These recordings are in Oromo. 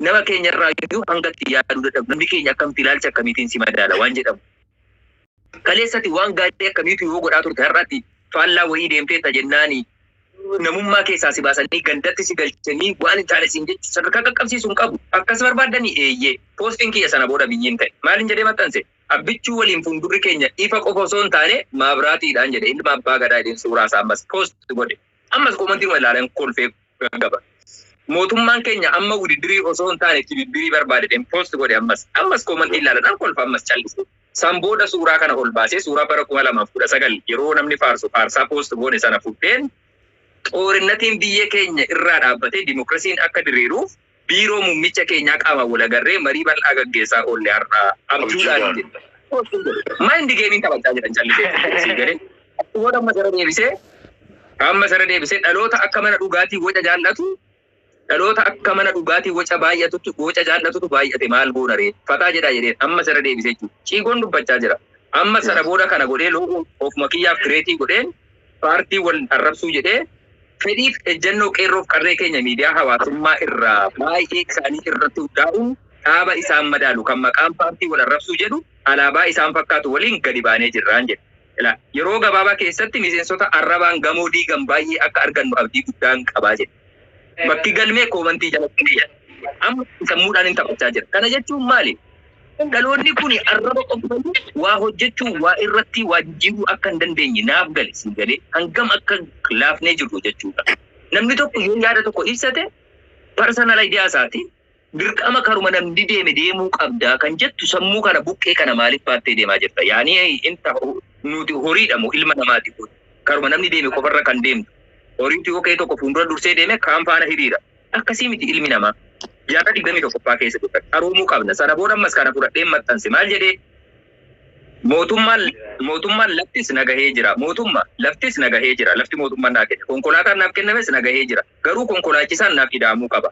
Nama keenya irraa iyyuu hanga itti yaaduu dadhabnu namni keenya akkamitti ilaalcha akkamiitiin si madaala waan jedhamu. Kaleessati waan gaarii akkamiitu yoo godhaa turte har'atti faallaa wayii deemteetta jennaani namummaa keessaa si baasanii gandatti si galchanii waan hin taane siin jechu sadarkaa qaqqabsiisu hin qabu. Akkas barbaaddanii? Eeyyee. Poostiin kiyya sana booda biyyiin ta'e. Maalin jedhee maxxanse? Abbichuu waliin fuuldurri keenya ifa qofa osoo hin taane maabraatiidhaan jedhe ilma abbaa gadaa jedheen suuraa isaa ammas post godhe. Ammas koomantiinuma ilaaleen kolfee gaggaba. Mootummaan keenya amma wudiddirii osoo hin taane tibibbirii barbaada jedheen post godhe ammas. Ammas comment ilaala nan kolfa ammas callisee. San booda suuraa kana ol baasee suuraa bara 2019 yeroo namni faarsu faarsaa post goone sana fudheen xoorinnatiin biyya keenya irraa dhaabbatee dimokirasiin akka diriiruuf Biiroo Muummicha keenyaa qaamaan wal agarree marii bal'aa gaggeessaa oolle har'a abjuudhaan jedhe. Mind game taphachaa jiran callisee sii galee. Akkuma amma sara deebisee amma sara deebisee dhaloota akka mana dhugaatii waca jaallatu dhaloota akka mana dhugaatii waca baay'atutu waca jaallatutu baay'ate maal goona ree fataa jedhaa jedheen amma sara deebisee jechuudha. Ciigoon dubbachaa jira. Amma sana booda kana godhee loogoo ofuma kiyyaaf kireetii godheen Paartii wal arrabsuu jedhee fedhiif ejjannoo Qeerroof Qarree keenya miidiyaa hawaasummaa irraa baay'ee isaanii irratti hundaa'uun dhaaba isaan madaalu kan maqaan paartii wal arrabsuu jedhu alaabaa isaan fakkaatu waliin gadi baanee jirraan jedhe. Ilaa yeroo gabaabaa keessatti miseensota arrabaan gamoo diigan baay'ee akka argannu abdii guddaan qaba jedhe. Bakki galmee koomantii jalatti ni jira. Amma sammuudhaanin taphachaa jira. Kana jechuun maali? Dhaloonni kuni arraba qofa malee waa hojjechuu, waa irratti waa jijjiiruu akka hin dandeenye naaf gale, sii galee hangam akka laafnee jirru jechuudha. Namni tokko yoo yaada tokko ibsate personal idea isaati. Dirqama karuma namni deeme deemuu qabda kan jettu sammuu kana buqqee kana maaliif baattee deemaa jirta? Yaani inta nuti horiidha moo ilma namaati kun? Karuma namni deeme qofarra kan deemtu. Horiitu yoo ka'ee tokko fuuldura dursee deeme kaan faana hiriira. Akkasii miti ilmi namaa. Jaarraa 21ffaa keessa jirra. Qaroomuu qabna. Sana booda ammas kana fudhadheen maxxanse. Maal jedhee? Mootummaan mootummaan laftis na gahee jira. Mootumma laftis na gahee jira. Lafti mootummaan naa kenne. Konkolaataan naaf kennames na gahee jira. Garuu konkolaachisaan naaf ida'amuu qaba.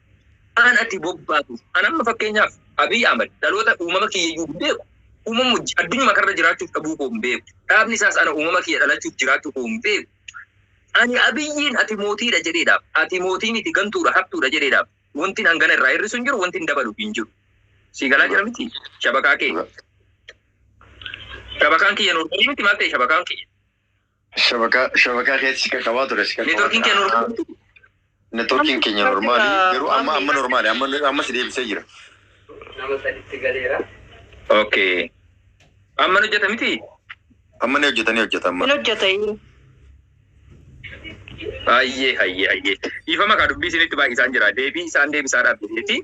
Waan ati bobbaatuuf. An amma fakkeenyaaf Abiy Ahmed dhaloota uumama kiyya iyyuu hin beeku. Uumama hojii addunyaa kanarra jiraachuuf dhabuu koo hin beeku. Dhaabni isaas ana uumama kiyya dhalachuuf jiraachuu koo hin beeku. Ani Abiyyiin ati mootiidha jedheedhaaf. Ati mootii miti gantuudha hattuudha jedheedhaaf. Wantin hangana irraa hir'isu hin jiru, wantin dabalu hin jiru. Sii galaa jira miti shabakaa kee. Shabakaan kiyya noormaalii miti maal ta'e shabakaan kiyya. Shabakaa shabakaa keessi kan qabaa ture si kan Networkiin kee normaal? Networkiin keenya normaali garuu amma amma normaali amma amma si deebisee jira. Nama saditti galeera. Okay. Amma nu hojjeta miti? Amma ni hojjetanii hojjeta amma. Hin hojjetayi. Hayyee hayyee hayyee. Dhiifama kaa dubbii isinitti baay'isaan jira. Deebii isaan deebisaadhaaf jedheeti.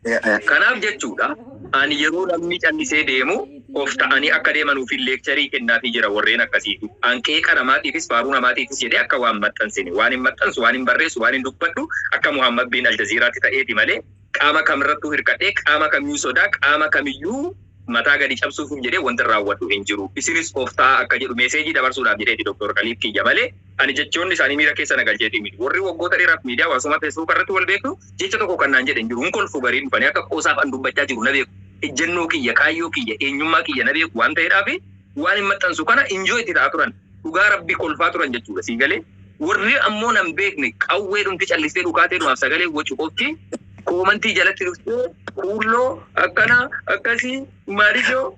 Kanaaf jechuudha, ani yeroo namni callisee deemu of ta'anii akka deemanuufin leekcharii kennaafii jira warreen akkasiifi. An qeeqa namaatiifis faaruu namaatiifis jedhee akka waa hin maxxansine. Waanin maxxansu, waanin barreessu, waanin dubbadhu akka Muhammad bin Aljaziiraatti ta'eeti malee qaama kamirrattuu hirkadhee, qaama kamiyyuu sodaa, qaama kamiyyuu mataa gadi cabsuufin jedhee wantin raawwadhu hin jiru. Isinis of ta'aa akka jedhu meeseejii dabarsuudhaaf jedheeti Doktoor Kaliid kiyya malee. Ani jechoonni isaanii miira keessa na galcheetii miti. Warri waggoota dheeraaf miidiyaa hawaasummaa Feesbuuka irratti wal beeknu jecha tokko kan naan jedhe hin jiru. Hin kolfu gariin dhufanii akka qoosaaf an dubbachaa jiru na beeku. Ejjennoo kiyya, kaayyoo kiyya, eenyummaa kiyya na beeku waan ta'eedhaaf waanin maxxansu kana enjoy itti ta'aa turan. Dhugaa Rabbii kolfaa turan jechuudha. Sii galee? Warri ammoo nan beekne qawweedhumti callistee dhukaateedhumaaf sagalee wacu qofti koomantii jalatti dhuftee kuulloo akkana akkasii maaliif yoo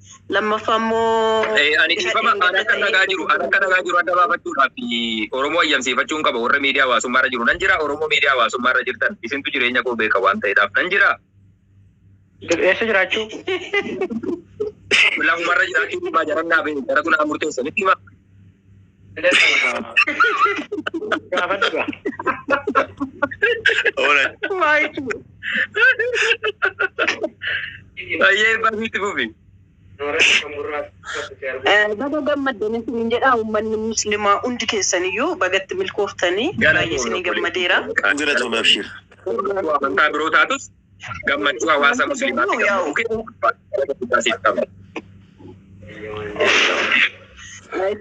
Lammaffaa immoo Ani dhiifama an akka nagaa jiru an akka nagaa jiru adda baafachuudhaaf Oromoo ayyamsiifachuun qaba warra miidiyaa hawaasummaa irra jiru nan jira Oromoo miidiyaa hawaasummaa irra jirtan isintu jireenya koo beeka waan ta'eedhaaf nan jira Eessa jiraachuu? lafumarra jiraachuu dhibbaa jarannaa beeku jara kunaa murteessanitti hima Ayyee baasitti fufi. Baga gammaddan isin jedha uummanni muslimaa hundi keessaniyyuu bagatti milkooftanii baay'ee isin gammadeera. Kan jira tuun abshiir. Amantaa biroo taatus gammachuu hawaasa musliimaatti gammachuu kenna.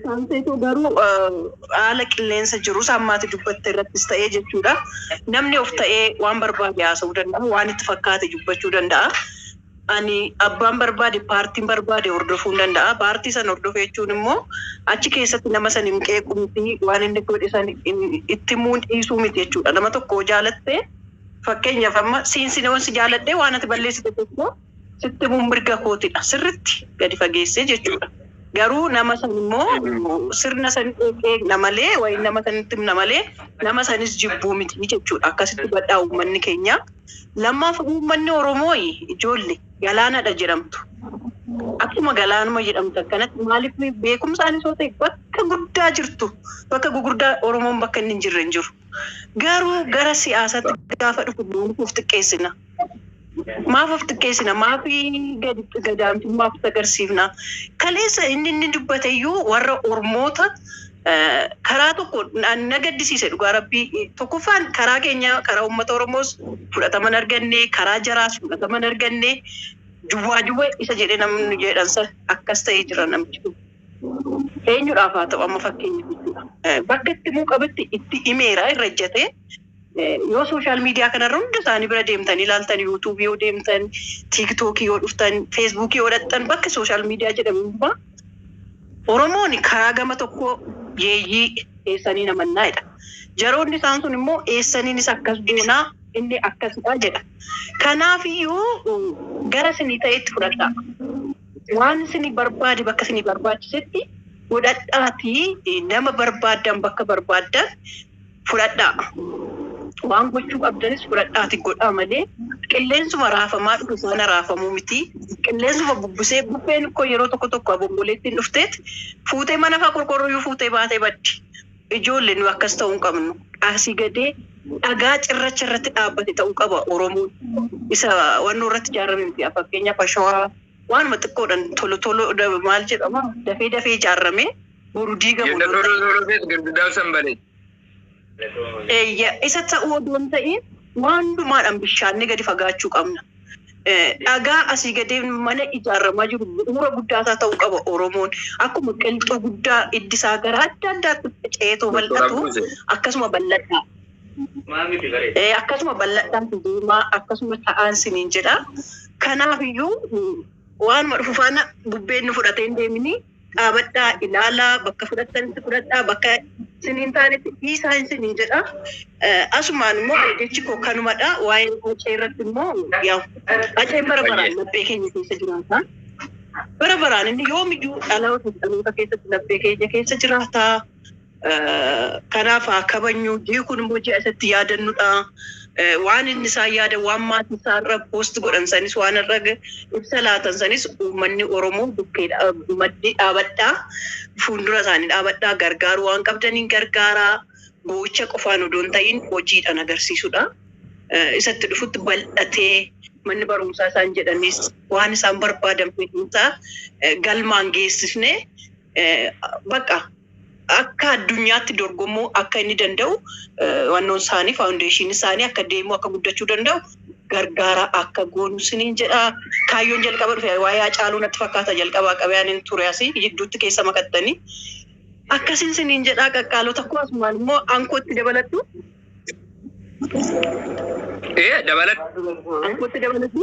Saamseetu garuu haala qilleensa jirus ammaati dubbatte irrattis ta'ee jechuudha. Namni of ta'ee waan barbaade haasa'uu danda'a, waan itti fakkaate dubbachuu danda'a. Ani abbaan barbaade paartiin barbaade hordofuu danda'a. Paartii san hordofee jechuun immoo achi keessatti nama san hin qeequu miti, waan inni godhe san itti muun dhiisuu miti jechuudha. Nama tokko jaalattee Fakkeenyaaf amma siin sin yoon si jaaladhee waan ati balleessite tokko sitti himuun mirga kootidha. Sirritti gadi fageessee jechuudha. Garuu nama san immoo sirna san eegna malee wayin nama sanitti himna malee nama sanis jibbuu miti jechuudha. Akkasitti hubadhaa uummanni keenya. Lammaaf uummanni Oromoo ijoolle galaanadha jedhamtu. Akkuma galaanuma jedhamtu akkanatti maaliif beekumsaanis yoo ta'e bakka guddaa jirtu bakka gugurdaa Oromoon bakka inni hin jirre hin jiru. Garuu gara siyaasatti gaafa dhufu maaf of xiqqeessina? Maaf of xiqqeessina? Maaf gadi gadaantummaa of agarsiifna? Kaleessa inni inni dubbate iyyuu warra Ormoota eh, karaa tokko na na gaddisiise dhugaa rabbii. Eh, Tokkoffaan karaa keenya karaa uummata Oromoos fudhatama hin arganne, karaa jaraas fudhatama hin arganne. Duwwaa duwwa isa jedhe namni jedhan san akkas ta'ee jira namichi kun. Eenyudhaaf haa ta'u amma fakkeenya gochuudha. Bakka itti himuu qabutti itti himeera irra ejjatee yoo social media kana irra hunda isaanii bira deemtanii ilaaltan YouTube yoo deemtan TikTok yoo dhuftan Facebook yoo dhaqxan bakka social media jedhamu hundumaa Oromoon karaa gama tokkoo yeeyyii eessanii namannaa jedha. Jaroonni isaan sun immoo eessaniinis akkas goonaa inni akkasidha jedha. Kanaafiyyuu gara isinii ta'etti fudhadhaa. Waan isin barbaade bakka isin barbaachisetti godhadhaatii nama barbaaddan bakka barbaaddan fudhadhaa. Waan gochuu qabdanis fudhadhaatii godhaa malee qilleensuma raafamaa dhufu sana raafamuu miti. Qilleensuma bubbusee bubbeen koo yeroo tokko tokko abomboleettiin dhufteet fuutee mana faa qorqorrooyyuu fuutee baatee baddi. Ijoolle nu akkas ta'u hin qabnu. Asii gadee dhagaa cirracha irratti dhaabbate ta'u qaba Oromoon. Isa wannoo irratti ijaarame miti. Fakkeenyaaf ashawaa waanuma xiqqoodhan tolo tolo maal jedhama dafee dafee ijaarame boru diigamu Ganda odoo hin tolo tolo keessa girgidaan san balee. Eeyya isa ta'uu odoo hin ta'iin waan hundumaadhan bishaannee gadi fagaachuu qabna. dhagaa asii gadee mana ijaaramaa jiru bu'uura guddaa isaa ta'uu qaba Oromoon. Akkuma qilxuu guddaa iddi isaa gara adda addaatti faca'eetoo Doktor bal'atu Abduse. akkasuma bal'adhaa. Maa miti bare. Eh, akkasuma bal'adhaan si deemaa akkasuma ta'aan siniin jedha. Kanaaf iyyuu waanuma dhufu faana bubbeen nu fudhatee hin deemini. dhaabadhaa ilaalaa bakka fudhattanitti fudhadhaa bakka isin hin taanetti dhiisaa isiniin jedha. Eh, Asumaan immoo jechi koo kanumadha. Waa'ee hacee irratti immoo yaa haceen bara baraan Baay'ee. laphee keenya keessa jiraata. Bara baraan inni yoomiyyuu dhaloota dhaloota keessatti laphee keenya keessa jiraata. Kanaaf haa kabajnu. Ji'i kun immoo ji'a isa itti yaadannudha. Waan inni isaan yaada, waan maatii isaa irra post godhan sanis waan irra ibsa laatan sanis uummanni Oromoo bukkee maddi dhaabadhaa. Fuuldura isaanii dhaabadhaa. Gargaaru waan qabdaniin gargaaraa. Boo'icha qofaan odoo hin ta'iin hojiidhaan agarsiisudha. Isatti dhufutti bal'atee manni barumsaa isaan jedhanis waan isaan barbaadan fiduusaa galmaan geessisnee bakka akka addunyaatti dorgomuu akka inni danda'u wannoon isaanii faawundeeshiin isaanii akka deemuu akka guddachuu danda'u gargaara akka goonu siniin jedha. Kaayyoon jalqaba dhufe waa'ee Hacaaluu natti fakkaata jalqabaa qabee ani ture asii jidduutti keessa makattanii. Akkasiin siniin jedhaa qaqqaalota koo asumaan immoo ankootti dabaladhu. Ee dabaladhu. Ankutti dabaladhu.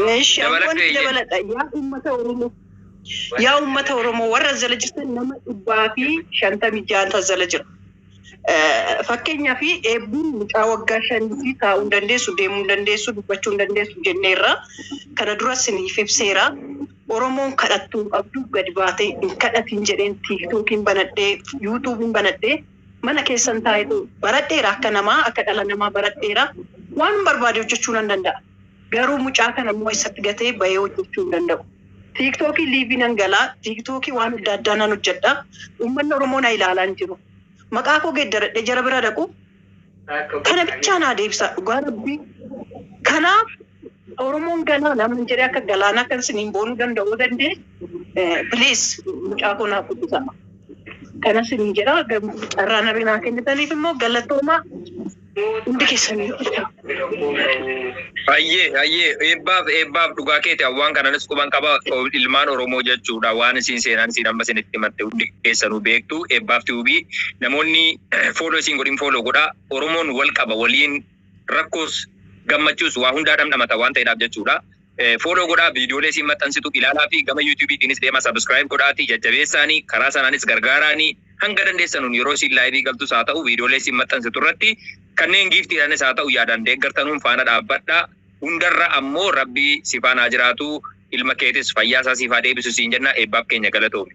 Meeshi Dabaladhu ankutti eeyyee. dabaladha. Yaa uummata Oromoo. Yaa uummata Oromoo warra as jala jirtan nama dhibbaa fi shantamii ja'an as jala jira. Eh, Fakkeenyaaf eebbiin mucaa waggaa shanii fi taa'uu hin dandeessu, deemuu hin dandeessu, dubbachuu hin dandeessu jenneerra. Kana dura siniif ibseera. Oromoon kadhattuu hin qabdu gadi baatee hin kadhatiin jedheen tiiktookiin banadhee yuutuubiin banadhee Mana keessan taa'eetu baradheera. Akka namaa, akka dhala namaa baradheera. Waanan barbaade hojjechuu nan danda'a. Garuu mucaa kana immoo eessatti gatee bahee hojjechuu hin danda'u. Tiiktookii liivii nan gala, tiiktookii waan adda addaa nan hojjedha. Uummanni Oromoo na ilaalaa hin jiru. Maqaa koo geeddaradhee jara bira dhaquu? Kana bichaa naa deebisaa dhugaa rabbii. Kanaaf Oromoon galaana man jedhee akka galaana akka isiniin boonuu danda'uu dandee bilees mucaa koo naaf guddisama. Kana isiniin jedha carraa nabi naa kennitaniif immoo galatoomaa hundi keessanii jirtan. Hayyee hayyee eebbaaf eebbaaf dhugaa keeti awwaan kananis quban qaba ilmaan Oromoo jechuudha waan isiin seenaan isiin amma isinitti himatte hundi keessanuu beektu eebbaaf tiwubii namoonni fooloo isiin godhin fooloo godhaa Oromoon wal qaba waliin Rakkoos gammachuus waa hundaa dhamdhamata waan ta'edhaaf jechuudha. Follow godhaa viidiyoolee isiin maxxansitu ilaalaafi gama YouTube tiinis deemaa subscribe godhaati jajjabeessaani karaa sanaanis gargaaraani hanga dandeessanuun yeroo isiin live galtus haa ta'u viidiyoolee isiin maxxansitu irratti kanneen giiftiidhaanis haa ta'u yaadaan deeggartanuun faana dhaabbadhaa hundarra ammoo rabbi si faana haa jiraatu ilma keetis fayyaa isaa siif haa deebisu siin jenna eebbaaf keenya galatoomi.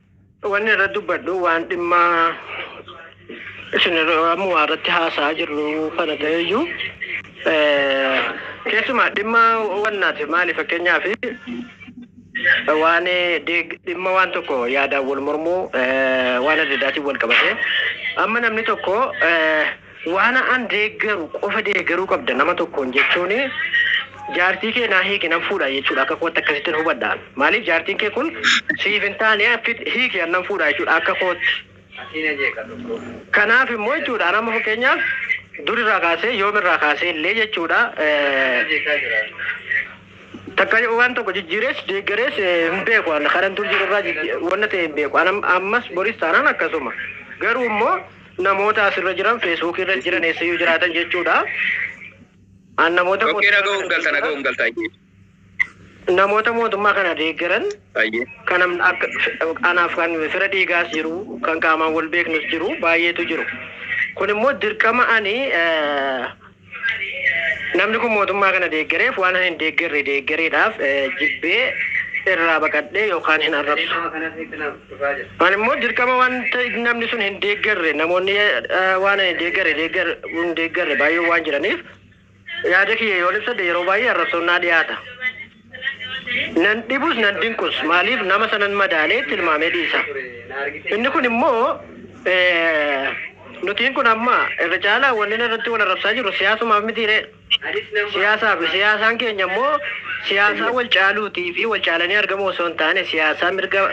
Wanni irratti dubbadhu waan dhimma isin ammumaa irratti haasa'aa jirru kana ta'eyyuu keessumaa dhimma wannaati maali fakkeenyaaf waan deeg- dhimma waan tokko yaadaan wal mormuu waan adda addaatiin wal qabatee amma namni tokko eh, Waan an deeggaru qofa deeggaruu qabda nama tokkoon jechuun jaartii kee naa hiiki nan fuudha jechuudha akka kootti akkasittin hubadha an. Maaliif jaartiin kee kun siif hin taane fit hiiki an nan fuudha jechuudha akka kootti. Kanaaf immoo jechuudha an amma fakkeenyaaf dur irraa kaasee yoom irraa kaasee illee jechuudha takka waan tokko jijjiirees deeggarees hin beeku an kanan dur jiru irraa wanna ta'e hin beeku an ammas boris taanaan akkasuma garuu immoo Namoota as irra jiran feesbuukii irra jiran eessayyuu jiraatan jechuudha. An namoota Tokkee mootummaa dhaga'uun kana galta dhaga'uun galta ayyee. namoota mootummaa kana deeggaran Ayyee. kan am- akka- anaaf kan fira dhiigaas jiru kan qaamaan wal beeknus jiru baay'eetu jiru kun immoo dirqama ani eh, Namni kun mootummaa kana deeggareef waanan hin deeggarre deeggareedhaaf jibbee irraa baqadhee yookaan hin arrabsu. Ani immoo dirqama wanta namni sun hin deeggarre namoonni waanan hin deeggarre deeggar hin deeggarre baay'een waan jiraniif yaada kiyya yoon ibsadhe yeroo baay'ee arrabsoon naa dhiyaata. Nan dhibus nan dinqus, maaliif nama sanan madaalee tilmaamee dhiisa. Inni kun immoo nutiin kun amma irra caalaa wanni irratti wal arrabsaa jirru siyaasumaaf mitiiree? Siyaasaafi siyaasaan keenya immoo siyaasaa wal caaluutii fi wal caalanii argamuu osoo hin taane siyaasaa mirga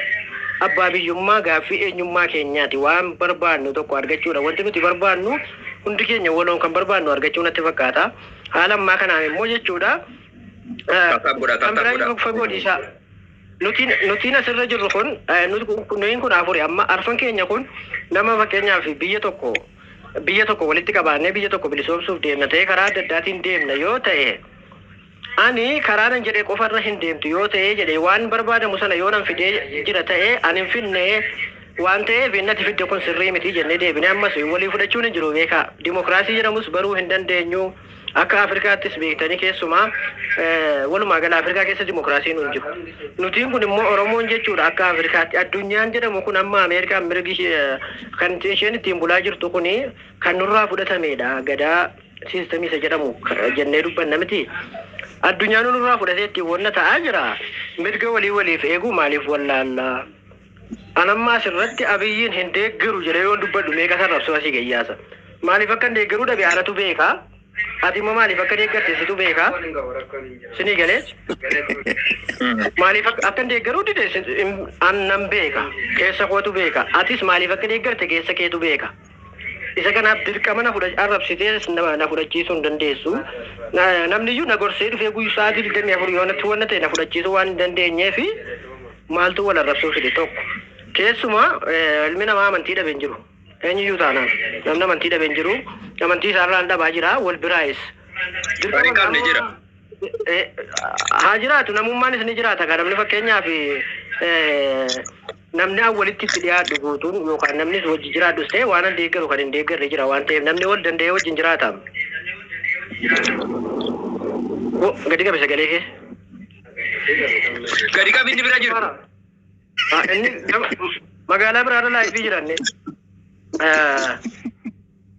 abbaa biyyummaa gaaffii eenyummaa keenyaati. Waan barbaannu tokko argachuudha. Wanti nuti barbaannu hundi keenya waloon kan barbaannu argachuu natti fakkaata. Haala ammaa kanaan immoo jechuudha. Kan biraa iyyuu fagoo dhiisaa. Nutiin nutiin asirra jirru kun eh, nuti kun- kun- nuyin kun afuri amma arfan keenya kun nama fakkeenyaaf biyya tokko biyya tokko walitti qabaannee biyya tokko bilisoomsuuf deemna ta'ee karaa adda addaatiin deemna yoo ta'e ani karaa nan jedhee qofarra hin deemtu yoo ta'ee jedhee waan barbaadamu sana yoo nan fidee jira ta'ee ani hin finnee waan ta'eef innati fidde kun sirrii miti jennee deebinee ammas walii fudhachuun hin jiru beekaa dimokiraasii jedhamus baruu hin dandeenyu. Akka Afrikaattis beektanii keessumaa walumaa gala Afrikaa keessa dimokiraasiin hin jiru. Nutiin kun immoo Oromoon jechuudha akka Afrikaatti. Addunyaan jedhamu kun amma Ameerikaan mirgi kan isheen ittiin bulaa jirtu kun kan nurraa fudhatameedha. Gadaa siistemii isa jedhamu jennee dubbanna miti. Addunyaan nurraa fudhatee ittiin wanna ta'aa jira. Mirga walii waliif eeguu maaliif wallaallaa? An amma as irratti Abiyyiin hin deeggaru jedhee yoon dubbadhu meeqa sarrabsuu asii ga'ii yaasa. Maaliif akkan deeggaruu dhabe anatu beeka. Ati immoo maaliif akka deeggarte situ beeka. Sinii galee? Maaliif akka- akkan deeggaruu dide sin- in- an nan beeka. Keessa kootu beeka. Atis maaliif akka deeggarte keessa keetu beeka. Isa kanaaf dirqama na fudha arrabsitees na na fudhachiisuu hin dandeessu. Na, namni iyyuu na gorsee dhufee guyyu sa'aatii 24 yoo natti wanna ta'e na fudhachiisuu waan hin dandeenyee fi maaltu wal arrabsuu fide tokko. Keessuma eh, ilmi namaa amantii dhabe hin jiru. Eenyu iyyuu taanaan namni amantii dhabe hin jiru. Amantii isaa irraan dhabaa jira wal biraayis. Kan hin qabne jira. Eh, haa jiraatu namummaanis ni jiraata kan namni fakkeenyaaf eh, Namni an walitti itti dhiyaadhu guutuun yookaan namnis wajji jiraadhus ta'e waan an deeggaru kan hin deeggarre jira waan ta'eef namni wal danda'ee wajjin jiraataam. Wo, gadi qabi sagalee kee. Gadi qabi inni bira jiru. Ah, Inni gama- magaalaa biraarra laayifii jira inni. Ah,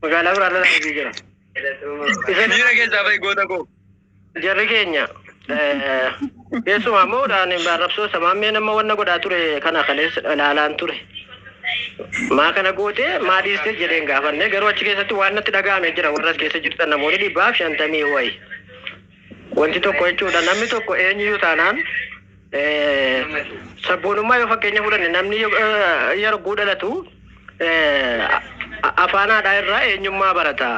Magaalaa biraarra laayifii jira. Isa Miira keessaa bahi goota koo. Jarri keenya keessumaa immoo arrabsoo samaammee nama wanna godhaa ture kana kaleessa ilaalaan ture. Maa kana gootee maa dhiistee jedheen gaafanne garuu achi keessatti waan natti dhaga'ame jira warra as keessa jirtan namoonni dhibbaaf shantamii wayi. Wanti tokko jechuudha namni tokko eenyuyyuu taanaan sabboonummaa yoo fakkeenya fudhanne namni yeroo dhalatu afaan haadhaa irraa eenyummaa barata.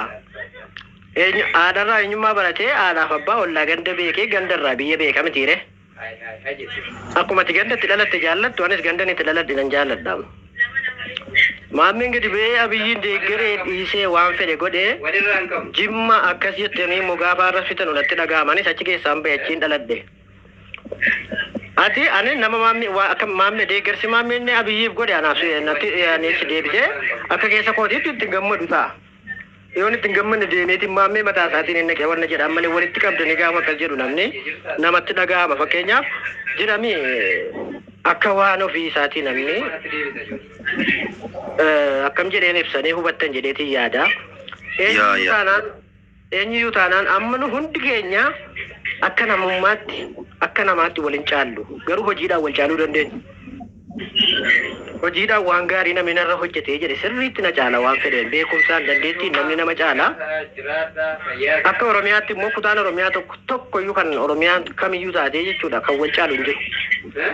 Haadharraa eenyummaa baratee haadhaaf abbaa ollaa ganda beekee gandarraa biyya beeka mitiiree? Akkuma ati ganda itti dhalatte jaallattu anis gandan itti dhaladhe nan jaalladha. Maammeen gadi ba'ee Abiyyiin deeggaree dhiisee waan fedhe godhe Jimma akkas jettanii immoo gaafa har'as fixanu natti dhaga'ama anis achi keessaan ba'e achiin dhaladhe. Ati ani nama maammee waa akka maammee deeggarsi maammeen Abiyyiif godhe anaaf natti ani si deebisee akka keessa kootiitti itti gammadu ta'a. Yoon itti hin gammanne deemeeti maammee mataa isaatiin hin naqe wanna jedhaan malee walitti qabdanii gaafa akkas jedhu namni namatti dhaga'ama fakkeenyaaf jiramii akka waan ofii isaatii namni akkam jedheen ibsanee hubattan jedheetiin yaada eenyuyyuu taanaan eenyuyyuu taanaan amma nu hundi keenya akka namummaatti akka namaatti wal hin caallu garuu hojiidhaan wal caaluu dandeenya. Hojiidhaan waan gaarii namni narra hojjete jedhe sirriitti na caala waan fedheen beekumsaan dandeettiin namni nama caala. Akka Oromiyaatti immoo kutaan Oromiyaa tokko tokkoyyuu kan Oromiyaan kamiyyuu taatee jechuudha kan wal caalu hin jiru.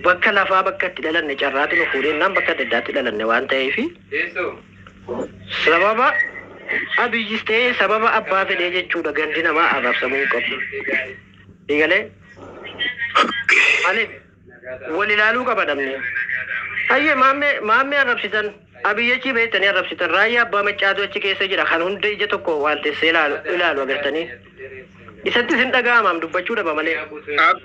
Bakka lafaa bakka itti dhalanne carraatu nu fuudhee naan bakka adda addaatti dhalanne waan ta'eef sababa Abiyyis ta'ee sababa abbaa fedhee jechuudha gandi namaa arrabsamuu hin qabu. Eegalee. Malee. Wal ilaaluu qaba namni. Hayyee maammee maammee arrabsitan Abiy achii bahettanii arrabsitan raayyaa abbaa maccaatu achi keessa jira kan hunda ija tokko waaltessee ilaalu ilaalu agartanii isattis hin dhaga'amaam dubbachuu dhaba malee. Ab.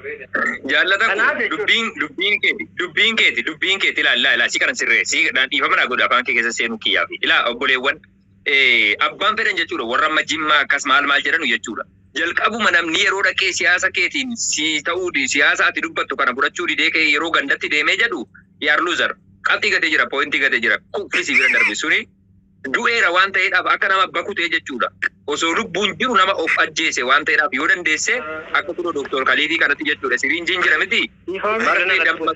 Jaallata koo Kanaaf jechuudha. dubbiin dubbiin keeti dubbiin keeti dubbiin keeti ilaa ilaa ilaa si kana sirree si dhaan dhiifama naa godha afaan kee keessa seenuu kiyyaa fi ilaa obboleewwan abbaan fedhan jechuudha warra amma jimmaa akkas maal maal jedhanu jechuudha. Jalqabuma namni yeroo dhaqee siyaasa keetiin si ta'uu di- siyaasa ati dubbattu kana fudhachuu didee kee yeroo gandatti deemee jedhu yaar luuzar qabxii gatee jira poointii gatee jira kuffisi bira darbe suni du'eera waan ta'eedhaaf akka nama bakutee jechuudha. Osoo lubbuun jiru nama of ajjeese waan ta'eedhaaf yoo dandeesse akka kunoo doktor Kaliifii kanatti jechuudha siriinjiin jira miti Dhiifama marree damma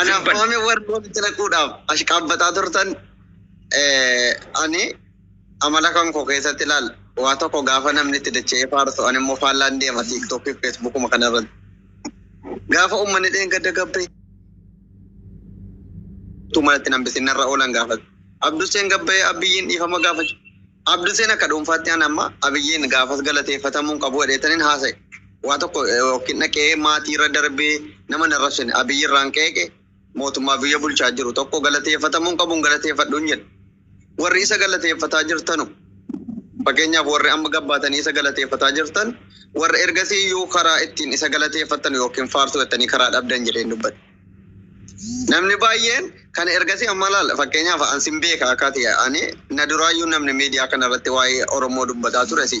Anaaf Dubbadhu. waame warri walitti naquudhaaf ashqaabbataa turtan eh, ani amala kan koo keessatti ilaal waa tokko gaafa namni itti dacha'ee faarsu ani immoo faallaan deema tiiktookii fi feesbuukuma kana irratti. Gaafa uummanni dheengadda gabbee tuu manatti nambisin narra oolan gaafate. Abduseen gabbee abbiyyiin dhiifama gaafachuu Abduseen akka dhuunfaatti an amma Abiyyiin gaafas galateeffatamuu hin qabu jedheetaniin haasa'e. Waa tokko yookiin dhaqee maatiirra darbee nama hin arrabsine. Abiyyirraan qeeqe mootummaa biyya bulchaa jiru tokko galateeffatamuu hin qabu hin galateeffadhu hin jedhe. Warri isa galateeffataa jirtanu fakkeenyaaf warri amma gabbaatanii isa galateeffataa jirtan warra ergasii iyyuu karaa ittiin isa galateeffattanu yookiin faarsu jettanii karaa dhabdan jedheen dubbadhe. Namni baay'een kan ergasii amma laala fakkeenyaaf an sin beeka akka ati ani na duraayyuu namni miidiyaa kana irratti waa'ee Oromoo dubbataa ture si.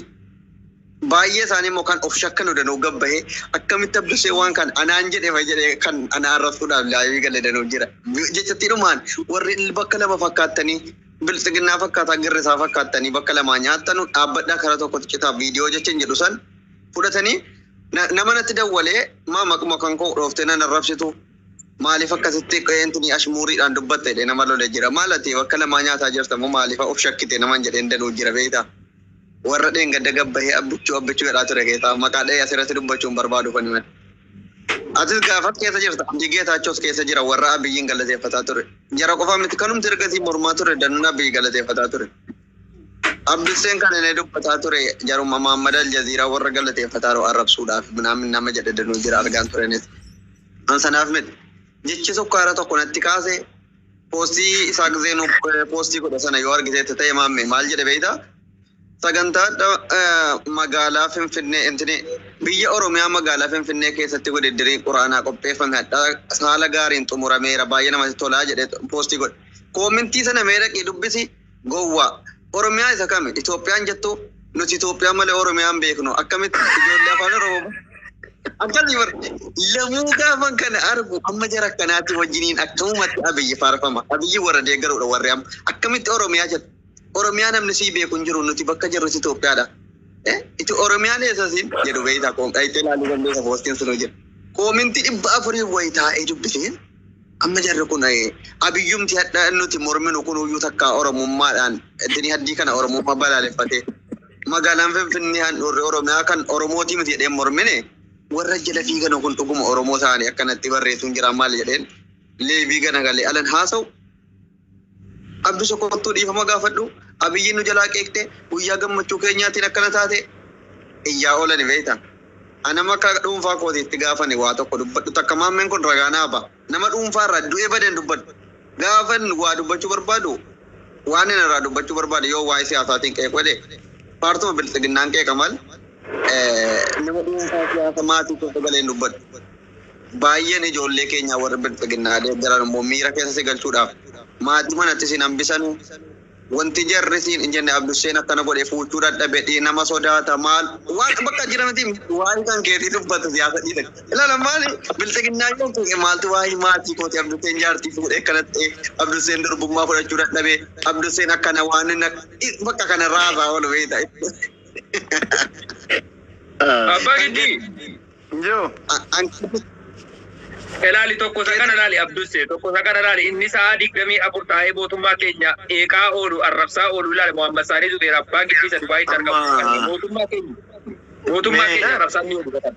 Baay'ee isaanii immoo kan of shakkan odanuu gabbahee akkamitti abbishee waan kan anaan jedhe fa jedhee kan anaa arrabsuudhaaf laayivii gale danuu jira. Jechattii dhumaan warri bakka lama fakkaattanii biltsiginnaa fakkaataa girrisaa fakkaattanii bakka lamaa nyaattanu dhaabbadhaa kara tokkotti citaa viidiyoo jechan jedhu san fudhatanii Na- nama natti dawwalee maa maquma kan koo dhooftee nan arrabsitu maaliif akkasitti qeentini ashmuuriidhaan dubbatte jedhee nama lole jira maal ati bakka lamaa nyaataa jirta moo maaliif of shakkite naman jedheen danuu jira beekta warra dheengadda gabbahee abbichuu abbichuu jedhaa ture keetaa maqaa dha'ee asirratti dubbachuun barbaadu kan himan atis gaafas keessa jirta abdii geetaachoos keessa jira warra abiyyiin galateeffataa ture jara qofaa miti kanumti ergasii mormaa ture danuun abiyyi galateeffataa ture Abdusseen kana ni dubbataa ture jaruma Muhammad Aljaziiraa warra galateeffataaru arrabsuudhaaf minaamin nama jedhe danuu jira argaan turenis. An sanaaf miti. Jechi sukkaara tokko natti kaase poostii isaa gizeen poostii godhe sana yoo argiteetta ta'e maamme maal jedhe beeyta? Sagantaa magaalaa Finfinnee intini biyya Oromiyaa magaalaa Finfinnee keessatti wididdirii quraanaa qopheeffame hadhaa haala gaariin xumurameera baay'ee namatti tolaa jedhe poostii godhe. Koomintii sana mee dhaqii dubbisi. Gowwaa. Oromiyaa isa kami Itoophiyaan jettu? Nuti Itoophiyaa malee Oromiyaa hin beeknu. Akkamitti ijoollee afaan Oromoo Akkasii bar lamuu gaafan kana argu amma jara akkanaatii wajjiniin akkamumatti abiyyi faarfama abiyyi warra deeggaruudha warri amma akkamitti oromiyaa jedha oromiyaa namni sii beeku hin jiru nuti bakka jirrus Itoophiyaadha Eh, iti oromiyaan eessa siin jedhu beeytaa koom dhayitee laaluu dandeessa poostiin sun hojjedha koominti dhibba afurii wayitaa'ee dubbisee Amma jarri kun abiyyumti hadha nuti morminu kunuyyuu takka oromummaadhaan dini haddii kana oromummaa balaaleffatee magaalaan finfinnee handhuurri oromiyaa kan oromootii miti jedheen mormine warra jala fiiganu kun dhuguma oromoo ta'anii akkanatti barreessuun jiraa maal jedheen leevii ganagalee alan haasa'u Abdusha kottuu dhiifama gaafadhu Abiyyiin nu jalaa qeeqte guyyaa gammachuu keenyaatiin akkana taate iyyaa oolani beekta a nama akka dhuunfaa kootiitti gaafan waa tokko dubbadhu takka maammeen kun ragaa naa ba nama dhuunfaa irraa du'e bade hin dubbadhu gaafan waa dubbachuu barbaadu waanin irraa dubbachuu barbaade yoo waa'ee siyaasaatiin qeequ jedhe paartuma bilxiginnaan qeeqa mal nama dhuunfaa siyaasa maatii keessa galee hin dubbadhu Baayyeen ijoollee keenyaa warri Bilxiginnaa deeggaran immoo miira keessa si galchuudhaaf maatii manatti siin hambisanu. Wanti jarri siin hin jenne Abdusheen akkana godhe fuuchuu dadhabe, dhiinama sodaata, maal waan bakka jira miti waa'ee kan keetii dubbatu siyaasa dhiise. Ilaala maali Bilxiginnaa yoo fuudhe maaltu waa'ee maatii kooti Abdusheen jaartii fuudhee akkana ta'e, Abdusheen durbummaa fudhachuu dadhabe, Abdusheen akkana waan inni akka bakka kana raasaa oolu beekta. Abbaa Giddii! Yoo. Anqabi. Ilaali tokko isa kana ilaali Abdusse tokko isa kana ilaali inni sa'aa digdamii afur taa'ee mootummaa keenya eeqaa oolu arrabsaa oolu ilaali Muhammad Saanii Zubeer abbaan giftii isa Dubaayitti argamu Amma. kan mootummaa keenya mootummaa Mee. keenya arrabsaa inni oolu kan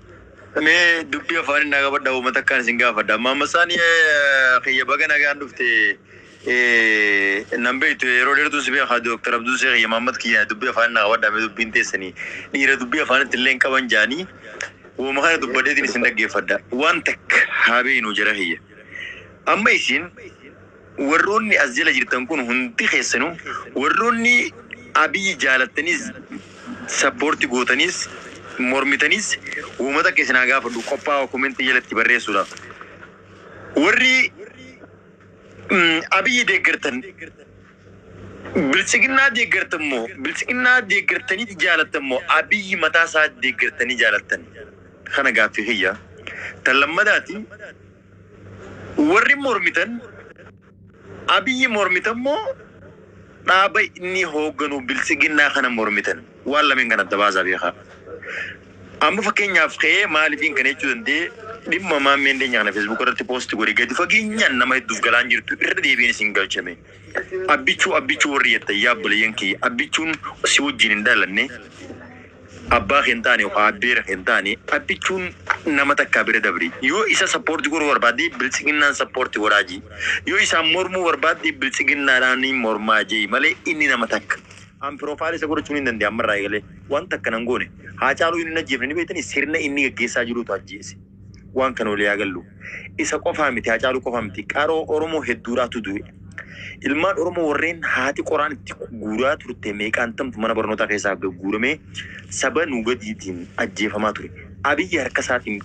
Mee dubbii afaanii naa qabadha uummata akkaan isin gaafadha. Maammasaan kiyya baga nagaan dhufte. Ee nan beektu yeroo dheertuun si beeka Dr. Abduu Seekh kiyya Mahammad kiyya dubbii afaanii naa qabadhaa mee dubbiin teessanii dhiira dubbii afaanitti illee hin qaban jaanii wooma kana dubbadheetiin isin dhaggeeffadha waan takka haa beeynuu jara kiyya amma isin warroonni as jala jirtan kun hundi keessanuu warroonni Abiy jaalattaniis support gootaniis mormitaniis wooma takka isin haa gaafadhu qophaawa comment jalatti barreessuudhaaf warri Abiyyi deeggartan biltsiginnaa deeggartan moo biltsiginnaa deeggartaniiti jaalattan moo Abiyyi mataa isaa deeggartanii jaalattan kana gaaffii kiyya. Tan lammadaati warri mormitan Abiyyi mormitan moo dhaaba inni hoogganu biltsiginnaa kana mormitan waan lameen kana adda baasaa beekaa. Amma fakkeenyaaf ka'ee maalifiin kana jechuu danda'e dhimma maammee hindeenya kana feesbuuka irratti poosti godhe gadi fageenyaan nama hedduuf galaan jirtu irra deebiin isin galchame. Abbichuu abbichuu warri jettan yaa obboleeyyan kiyya abbichuun si wajjin hin dhalanne abbaa kee hin taane yookaan abbeera kee hin taane abbichuun nama takkaa bira dabri yoo isa sappoorti godhuu barbaadde biltsiginnaan sappoorti godhaa jii yoo isaan mormuu barbaadde biltsiginnaadhaan mormaa jei malee inni nama takka An profile isa godhachuu nin dande'a amma irraa eegalee. Waan takka nan goone. Haacaaluu inni hin ajjeefne ni beektanii sirna inni gaggeessaa jiruutu ajjeese. Waan kana walii haa gallu. Isa qofaa miti Haacaaluu qofaa miti qaroo Oromoo hedduudhaatu du'e. Ilmaan Oromoo warreen haati qoraan itti guuraa turte meeqaantamtu mana barnootaa keessaa gagguuramee saba nuu gadiitiin ajjeefamaa ture. Abiyyi harka isaatiin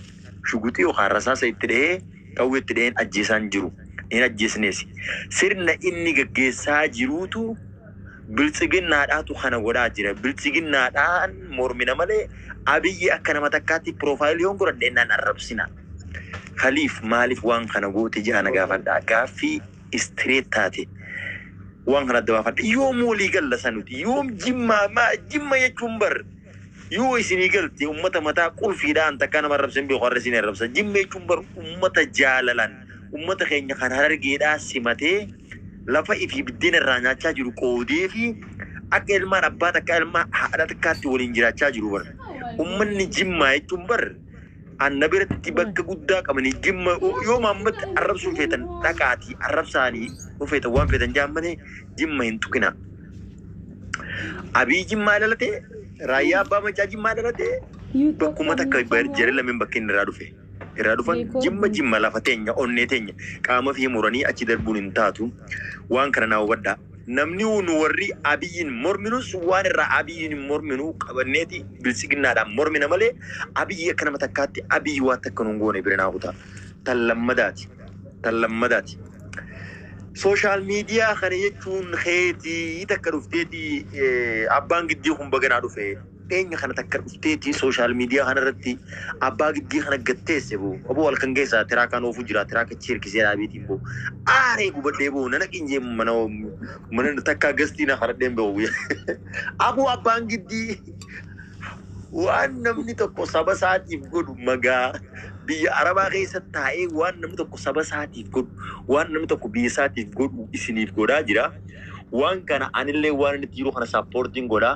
shuguxii yookaan rasaasa itti dhahee qawwee itti dhaheen ajjeesaan jiru. Hin ajjeesneesi. Sirna inni gaggeessaa jiruutu Biltsiginnaadhaatu kana godhaa jira. Biltsiginnaadhaan mormina malee Abiyyi akka nama takkaatti piroofaayilii yoon godhadhe nan arrabsina. Kaliif maaliif waan kana goote jedhaa na gaafadha. Gaaffii istireet taate waan kana adda baafadha. Yoom walii galla sanuti? Yoom jimmaa? Jimma jechuun bar Yoo isinii galte ummata mataa qulfiidha an takkaa nama arrabse hin beeku har'a isin arrabsa jimma jechuun bar ummata jaalalan ummata keenya kan harargeedhaa simatee lafa ifii biddeena irraa nyaachaa jiru qoodeefi akka ilmaan abbaa takkaa ilmaa haadha takkaatti waliin jiraachaa jiru bar ummanni jimmaa jechuun bar Anna biratti bakka guddaa qabanii jimma yoo maammatti arrabsuu feetan dhaqaatii arrabsaanii yoo feetan waan feetan jaan malee jimma hin tuqinaa. Abii jimmaa ilalatee raayyaa abbaa macaa jimmaa ilalatee bakkuma takka jara lameen bakka inni irraa dhufe. Irraa dhufan jimma jimma lafa teenya onnee teenya qaama fi muranii achi darbuun hin taatu waan kana naa hubadhaa. Namniu nu warri Abiyyiin morminus waan irraa Abiyyiin hin morminu qabanneeti Biltsiginnaadhaan mormina malee Abiyyi akka nama takkaatti Abiyyi waan takka nu hin goone bira naa kutaa. Tan lammadaati. Tan lammadaati. Social media kana jechuun keeti takka dhufteeti Abbaan Giddii kun baga naa dhufe. Dhiyeenya kana takka dhufteeti social media kana irratti abbaa giddii kana gad teesse boo aboo halkan keessa tiraakaan oofuu jira tiraaka achi hirkisee dhaabeetiin boo aaree gubadhee boo nana qinyee mana mana takka gastii na kadhadheen boo guyyaa aboo abbaan giddii waan namni tokko saba isaatiif godhu magaa biyya arabaa keessa taa'ee waan namni tokko saba isaatiif godhu waan namni tokko biyya isaatiif godhu isiniif godhaa jira waan kana anillee waan inni jiru kana saappoortiin godhaa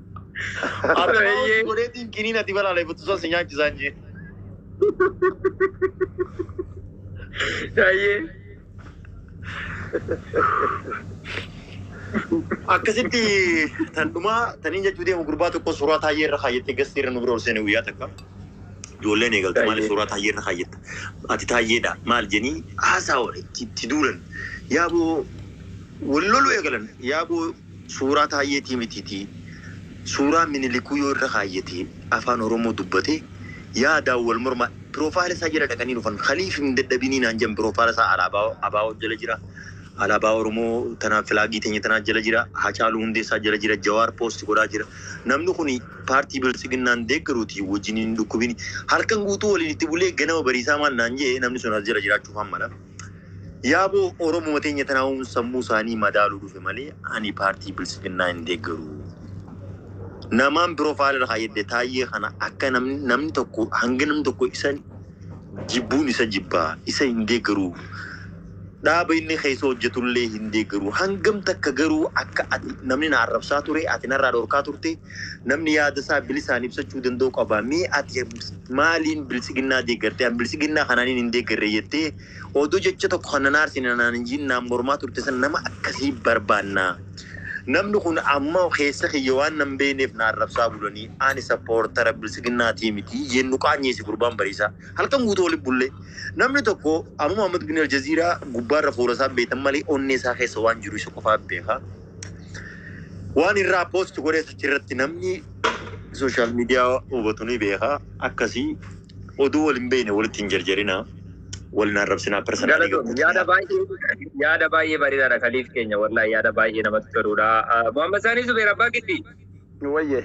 Akka Eeyyee. maawusi godheetiin kiniin ati balaaleffattu san si nyaachisaan jee. Eeyyee. Akkasitti tan dhumaa taniin jechuu deemu gurbaa tokko suuraa taayyee irra kaayyattee gastii irra nu bira ol seene guyyaa takka. Ijoolleen eegalte maaliif Taayyee. suuraa taayyee irra kaayyatta? Ati taayyeedha maal jenii haasaa itti itti duulan. Yaaboo wal loluu eegalan. Yaaboo Suuraa Taayyeetii mitiitii suuraa Minilikuu yoo irra kaayyatee Afaan Oromoo dubbatee yaadaan wal mormaa Piroofaayila isaa jala dhaqanii dhufan kaliif hin dadhabinii naan jedhan Piroofaayila isaa Alaabaa abo jala jira Alaabaa Oromoo tana Filaagii teenya tanaa jala jira Hacaaluu Hundeessaa jala jira Jawaar Poosti godhaa jira Namni kuni Paartii Biltsiginnaan deeggaruutii wajjiniin hin dhukkubinii Halkan guutuu waliin itti bulee ganama bariisaa maal naan jedhe namni sun as jira jiraachuufaan mala Yaabo Oromuma teenya tanaahuun sammuu isaanii madaaluu dhufe malee ani paartii bilsiginnaa hin deeggaru. Namaan profile irra kaayyadde taayyee kana akka namni namni tokko hanga namni tokko isa jibbuun isa jibba isa hin deeggaru. Dhaaba inni keessa hojjetullee hin deeggaru. Hangam takka garuu akka ati namni na arrabsaa ture ati narraa dhorkaa turte Namni yaada isaa bilisaan ibsachuu danda'u qaba. Mee ati maaliin biltsiginnaa deeggartee? An biltsiginnaa kanaaniin hin deeggarre jettee odoo jecha tokko kan nan aarsine naan hin jiin naan mormaa turte san nama akkasii barbaanna. Namni kun amma keessa kiyya waan nan beekneef na arrabsaa bulanii ani sappoortara biltsiginnaatii miti jeen nu qaanyeesse gurbaan bariisaa. Halkan guutuu waliin bulle. Namni tokko Amuma Ahmad Guni Aljaziiraa gubbaarra fuula isaa beektan malee onnee isaa keessa waan jiru isa qofaa beeka. Waan irraa post godhee achirratti namni sooshaal miidiyaa hubatu ni beeka. Akkasii oduu wal hin beekne walitti hin jarjarina. Wal hin arrabsinaa personaalii Galatoom yaada gabbatu. baay'ee yaada baay'ee bareedaadha kaliif keenya wallahi yaada baay'ee namatti toludha. Muhammad Saanii Zubeer Abbaa Giddii. nu wayye.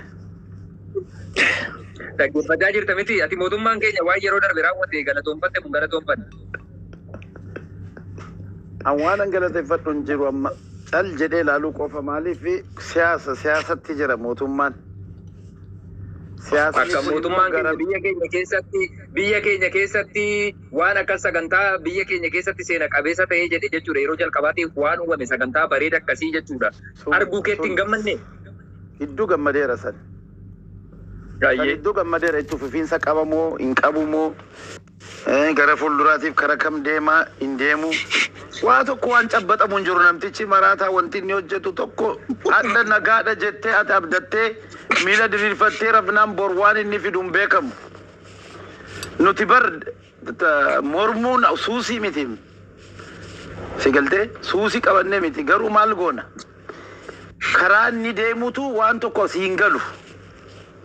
Dhaggeeffachaa jirta miti ati mootummaan keenya waan yeroo darbe raawwate galatoonfatte kun galatoonfanne. An waan an galateeffadhu hin jiru amma cal jedhee ilaaluu qofa maaliif siyaasa siyaasatti jira mootummaan. Siyaasni Akka kun immoo mootummaan keenya gara biyya keenya keessatti biyya keenya keessatti waan akka sagantaa biyya keenya keessatti seena qabeessa ta'ee jedhe jechuudha yeroo jalqabaatiif waan uumame sagantaa bareeda akkasii jechuudha. sun Arguu keetti hin sun gammanne? Hiddu gammadeera san. San hiddu gammadeera itti fufiinsa qaba moo hin qabu moo gara fuulduraatiif kara kam deema hin deemu waa tokko waan cabbaxamu hin jiru namtichi maraataa wanti inni hojjetu tokko hadha nagaadha jettee ati abdattee miila diriirfattee rafnaan bor waan inni fidu hin beekamu nuti bar But mormuun suusii miti si galtee suusii qabannee miti garuu maal goona karaa inni deemutu waan tokko si hin galu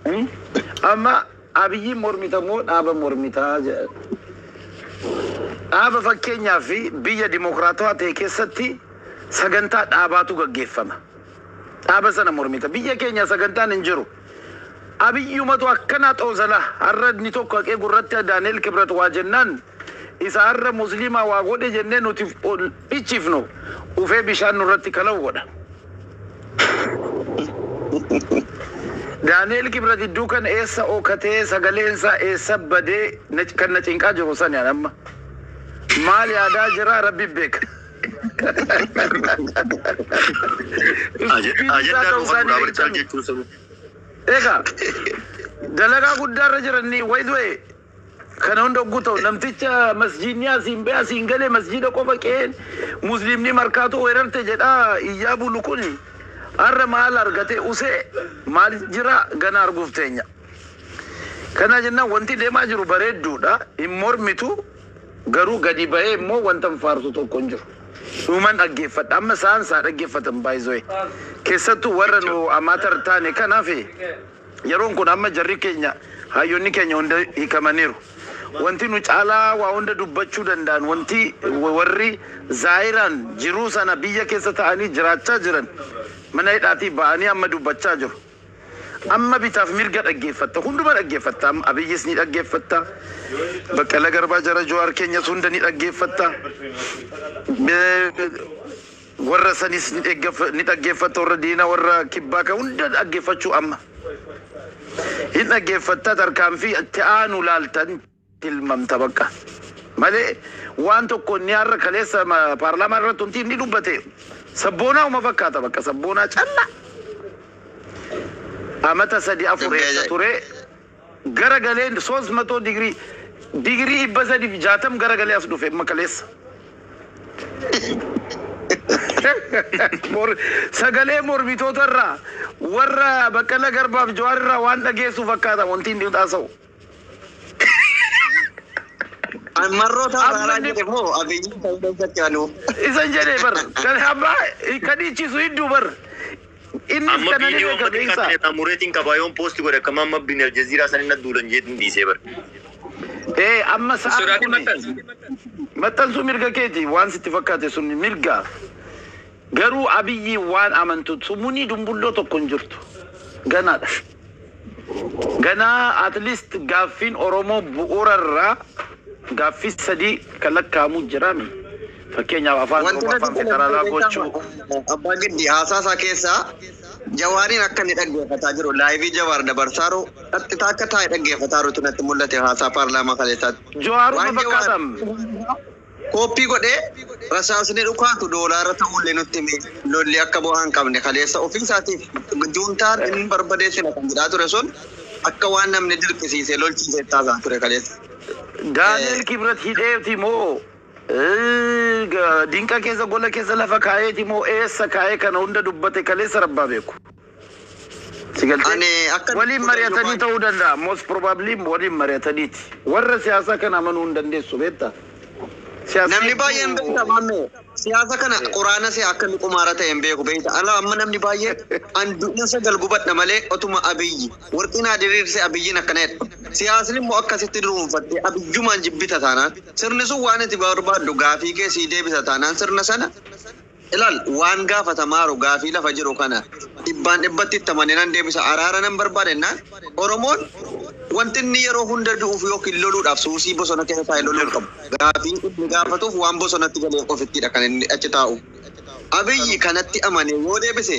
Hmm? amma abiyyiin mormita moo dhaaba mormitaa jedha. dhaaba fakkeenyaa fi biyya dimokiraatawaa ta'e keessatti sagantaa dhaabaatu gaggeeffama dhaaba sana mormita biyya keenya sagantaan hin jiru Abiyyumatu akkana xoozala harra inni tokko haqee gurratti Daaneel Kibrat waa jennaan isa harra musliimaa waa godhe jennee nuti ol dhichifnu dhufee bishaan nurratti kalau godha. Daaneel Kibrat idduu kan eessa ookatee sagaleen isaa eessa badee kan na cinqaa jiru sani an amma. Maal yaadaa jiraa rabbi beeka. Ajandaa dhuunfaa duraa barchaa jechuun sun. Egaa dalagaa guddaa irra jiranni way du'e kana hunda ogguu ta'u namticha masjiidni asiin bee asiin galee masjiida qofa qe'een musliimni markaatoo weerarte jedhaa iyyaa bulu kun har'a maal argate usee maal jira gana arguuf teenya. Kana jennaan wanti deemaa jiru bareedduudha hin mormitu Garuu gadi bahee immoo wantan faarsu tokko hin jiru. Dhuman dhaggeeffadha. Amma isaan isaa dhaggeeffatan by the way. Keessattuu warra nu amateur taane kanaaf yeroon kun amma jarri keenya hayyonni keenya hunda hiikamaniiru. Wanti nu caalaa waa hunda dubbachuu danda'an wanti warri zaayiraan jiruu sana biyya keessa ta'anii jiraachaa jiran mana hidhaatii ba'anii amma dubbachaa jiru. Amma bitaaf mirga dhaggeeffatta. Hunduma dhaggeeffatta amma. Abiyyis ni dhaggeeffatta. Baqqala Garbaa jara Jowaar keenyas hunda ni dhaggeeffatta. Warra sanis ni dhaggeeffatta warra diina warra kibbaa kan hunda dhaggeeffachuu amma. Hin dhaggeeffatta tarkaanfii itti aanu laalta. tilmamta baqqa male waan tokko inni harra kaleessa paarlaamaa irratti wanti inni dubbate sabboonaa uma fakkaata baqqa sabboonaa calla amata sadi afur eessa ture gara galee soos matoo digirii digirii dhibba sadi fi jaatam gara galee as dhufe amma kaleessa Mor- sagalee mormitoota irraa warra baqqala garbaaf jawaar irraa waan dhageessu fakkaata wanti inni haasa'u Marroo ta'uu Amma haaraa inni- jedhe moo abiyyi ta'uu keessatti anuu. Isan jedhe bar. Kan abbaa kan dhiichisu hedduu bar. Innis Amma kana ni viidiyoo beeka amma xiqqaa beeksa. ta'e irraa mureetiin qabaa yoon poosti godhe akkam amma bin aljaziiraa san inni duulan jeetiin dhiisee bar. Ee amma sa'aan Sodaatee kuni maxxansi. maxxansuu mirga keeti waan sitti fakkaate sun mirga. Garuu abiyyi waan amantu sumunii dumbulloo tokko hin jirtu. Ganaadha. Ganaa at least gaaffiin Oromoo bu'uura irraa gaaffii sadii kan lakkaa'amu jira mi? Fakkeenyaaf Afaan Wanti Oromoo natti Afaan tole Federaalaa maal beektaa gochuu. ma- Abbaa Giddi haasaa isaa keessaa Jawaariin akka inni dhaggeeffataa jiru laayivii Jawaar dabarsaaru qaxxitaa akka taa'e dhaggeeffataarutu natti mul'ate haasaa paarlaamaa kaleessaatti. Jawaaruma Waan Jawaar fakkaatam. Kooppii godhee rasaasni dhukaatu doolaara ta'uullee nutti hime. Lolli akka bu'aa hin qabne kaleessa ofii isaatiif juuntaan hin barbadeessina kan jedhaa ture sun akka waan namni dirqisiisee lolchiiseetti haasa'aa ture kaleessa. Daani'el Kibret hidheeti moo dinqa keessa gola keessa lafa kaa'eeti moo eessa kaa'ee kana hunda dubbate kaleessa rabbaa beeku. Si galtee? Ani akka Waliin mari'atanii ta'uu danda'a. Most probably waliin mari'ataniiti. Warra siyaasaa kana amanuu hin dandeessu beektaa? Siyaasni Namni baay'een beekta hedduu maammee siyaasa kana quraana se'a akka inni qumaara ta'e hin beeku beekta ala amma namni baay'een an du'in sagal gubadha malee otuma abiyyi warqii naa diriirse abiyyiin akkana jedha siyaasni immoo akkasitti duruunfattee abiyyumaan jibbita taanaan sirni sun waan ati barbaaddu gaafii kee sii deebisa taanaan sirna sana Ilaal, waan gaafatamaaru gaafii lafa jiru kana dhibbaan dhibbatti itti amanee nan deebisa, araara nan barbaada jennaan, Oromoon wanti inni yeroo hunda du'uuf ykn loluudhaaf suusii bosona keessa taa'ee loluu hin qabu. Gaafii inni gaafatuuf waan bosonatti galeef qofittiidha kan inni achi taa'u. Abiyyi kanatti amanee yoo deebise,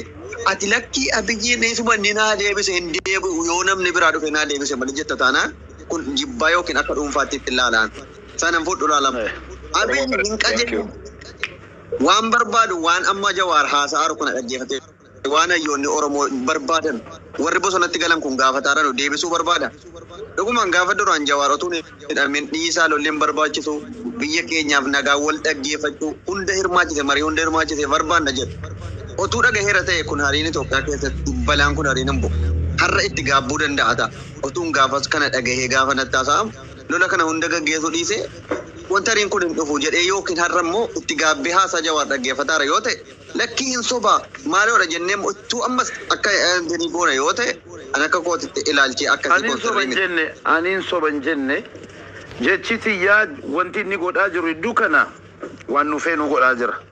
ati lakkii Abiyyiin isuma inni naa deebise hin deebi'u yoo namni biraa dhufee naa deebise malee jetta taanaan kun jibbaa ykn akka dhuunfaatti ittin laalaan. Sana hin fudhu laa lama. Abiyyi hin qajeeluu. Waan barbaadu waan amma Jawaar haasa'aaru kana dhaggeeffatee waan hayyoonni Oromoo barbaadan warri bosonatti galan kun gaafataaranu deebisuu barbaada? Dhugumaan gaafa duraan Jawaar otuu hin hidhamin dhiisaa lolli hin barbaachisu, biyya keenyaaf nagaa, wal dhaggeeffachuu, hunda hirmaachise, marii hunda hirmaachise barbaanna jedhu otuu dhagaheera ta'e kun hariin Itoophiyaa keessatti balaan kun hariin hin bu'u. Har'a itti gaabbuu danda'ata otuun gaafas kana dhagahee gaafa natti haasa'amu. lola kana hunda gaggeesuu dhiisee montariin kun hin dhufu jedhee ykn har'a immoo itti gaabbee haasaa Jawaar dhaggeeffataara yoo ta'e lakkii hin soba maaloodha jennee immoo ittuu ammas akka deebii goona yoo ta'e an akka kootitti ilaalchii akkasii Ani hin kun soba sirrii hin miti. jenne, ani hin soba hin jenne. Jechi tiyyaa wanti inni godhaa jiru hedduu kana waan nu feenu godhaa jira.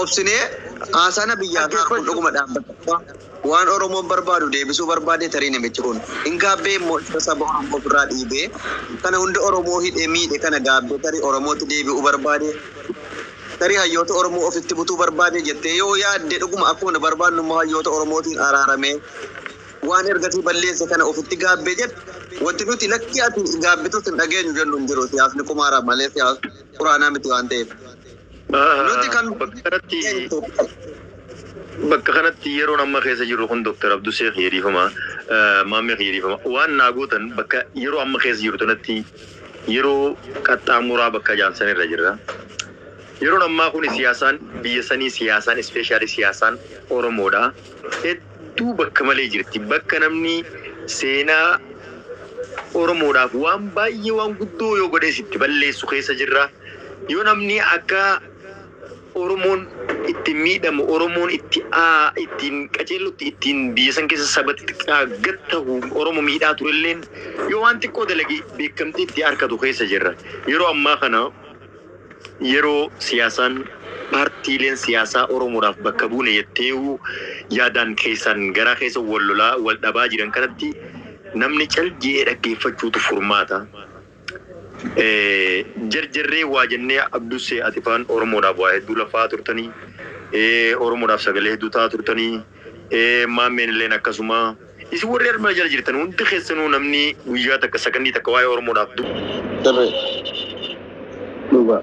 obsinee haasana biyyaa isaa arguun dhuguma dhaabbata qofaa waan oromoon barbaadu deebisuu barbaadee tarii namichi kun hin gaabbee immoo isa saba oromoo ofirraa dhiibee kana hunda oromoo hidhe miidhe kana gaabbee tarii oromootti deebi'uu barbaadee tarii hayyoota oromoo ofitti butuu barbaadee jettee yoo yaadde dhuguma akkuma nu barbaadnu immoo hayyoota oromootiin araaramee waan ergasii balleesse kana ofitti gaabbee jedhe wanti nuti lakkii ati gaabbitus hin dhageenyu jennu hin jiru siyaasni qumaara malee siyaas quraanaa miti waan ta'eef. Nuti kan Bakka kanatti bakka kanatti yeroon amma keessa jirru kun Dr. Abduu Seek Yeediifama Maammee Yeediifama waan naa gootan bakka yeroo amma keessa jirru tanatti yeroo qaxxaamuraa bakka jaansan irra jirra. Yeroon ammaa kun siyaasaan biyya sanii siyaasaan ispeeshaalii siyaasaan Oromoodha. Hedduu bakka malee jirti. Bakka namni seenaa Oromoodhaaf waan baay'ee waan guddoo yoo godhees itti balleessu keessa jirra. Yoo namni akka Oromoon ittiin miidhamu, Oromoon itti ittiin qaceellutti ittiin biyya san keessa saba xixiqqaa gad tahu Oromo miidhaa turelleen yoo waan xiqqoo dalage beekkamtii itti arkatu keessa jirra. Yeroo ammaa kana yeroo siyaasaan paartiileen siyaasaa Oromoodhaaf bakka buune jetteeyu yaadaan keessaan garaa keessa wal lolaa, wal dhabaa jiran kanatti namni cal je'ee dhaggeeffachuutu furmaata. Jarjarree waa jennee Abdussee ati faan Oromoodhaaf waa hedduu laffa'aa turtanii. Oromoodhaaf sagalee hedduu ta'aa turtanii. Maammeen illeen akkasuma. Isin warri armaa jala jirtan hundi keessanuu namni guyyaa takka sakandii takka waa'ee Oromoodhaaf dubbate. Sirrii. Dhugaa.